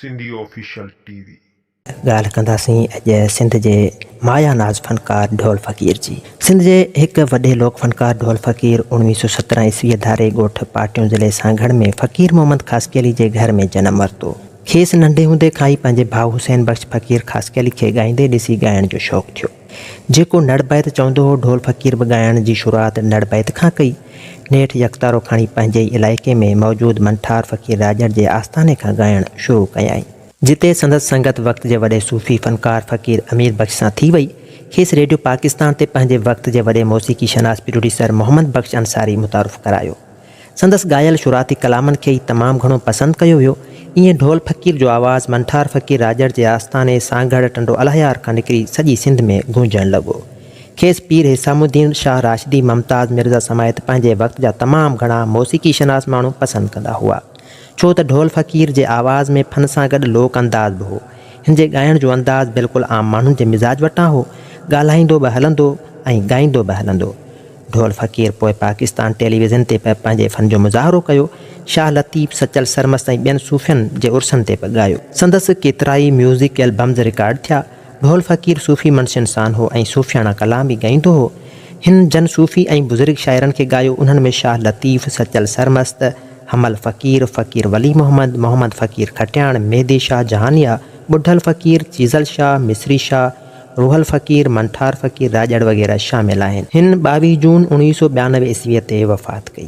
Sindhi official T V. ڳالهه ڪنداسين اڄ سنڌ جي مايا ناز فنڪار ڍول فقير جي. سنڌ جي هڪ وڏي لوڪ فنڪار ڍول فقير اوڻويهه سؤ سترهن عيسويء ڌاري ڳوٺ پاٽيون ضلعي سانگهڙ ۾ فقير محمد خاصخيلي جي گهر ۾ جنم ورتو. کيس ننڍي هوندي کان ئي پنهنجي ڀاء حسين بخش فقير خاصخيلي کي ڳائيندي ڏسي ڳائڻ جو شوق ٿيو. جيڪو نڙ بيت چوندو هو، ڍول فقير به ڳائڻ جي شروعات نڙ بيت کان ڪئي. نيٺ يڪتارو کڻي پنهنجي ئي علائقي ۾ موجود منٺار فقير راڄڙ جي آستاني کان ڳائڻ شروع ڪيائين. جتي سندس سنگت وقت جي وڏي صوفي فنڪار فقير امير بخش سان ٿي وئي. کيس ريڊيو پاڪستان تي پنهنجي وقت جي وڏي موسيقي شناس پروڊيوسر محمد بخش انصاري متعارف ڪرايو. سندس ڳايل شروعاتي ڪلامن کي ئي تمام گهڻو پسند ڪيو ويو. ائين ڍول فقير جو آواز منٺار فقير راڄڙ جي آستاني سانگهڙ ٽنڊو الهيار کان نڪري سڄي سنڌ ۾ گونجڻ لڳو. کيس پير حسام الدين شاهه راشدي ممتاز مرزا سميت پنهنجي وقت جا تمام گهڻا موسيقي شناس ماڻهو پسند ڪندا هئا. ڇو ته ڍول فقير جي آواز ۾ فن سان گڏ لوڪ انداز به هو. هن جي ڳائڻ جو انداز بلڪل عام ماڻهن جي مزاج وٽان هو. ڳالهائيندو به هلندو ۽ ڳائيندو به هلندو. ڍول فقير پوء پاڪستان ٽيليويزن تي به پنهنجي فن جو مظاهرو ڪيو. شاهه لطيف، سچل سرمست ۽ ٻين صوفين جي عرسن تي به ڳايو. سندس ڪيترائي ميوزڪ البمز رڪارڊ ٿيا. ڍول فقير صوفي منشين سان هو ۽ صوفياڻا ڪلام به ڳائيندو هو. هن جن صوفي ۽ بزرگ شاعرن کي ڳايو، انهن ۾ شاهه لطيف، سچل سرمست، حمل فقير، فقير ولي محمد، محمد فقير کٽياڻ، مهدي شاهه جهانيا، ٻڍل فقير، چيزل شاهه، مصري شاهه، روح الفقير، منٺار فقير راڄڙ وغيره شامل آهن. هن ٻاويهه جون اوڻويهه سؤ ٻيانوي عيسويء تي وفات ڪئي.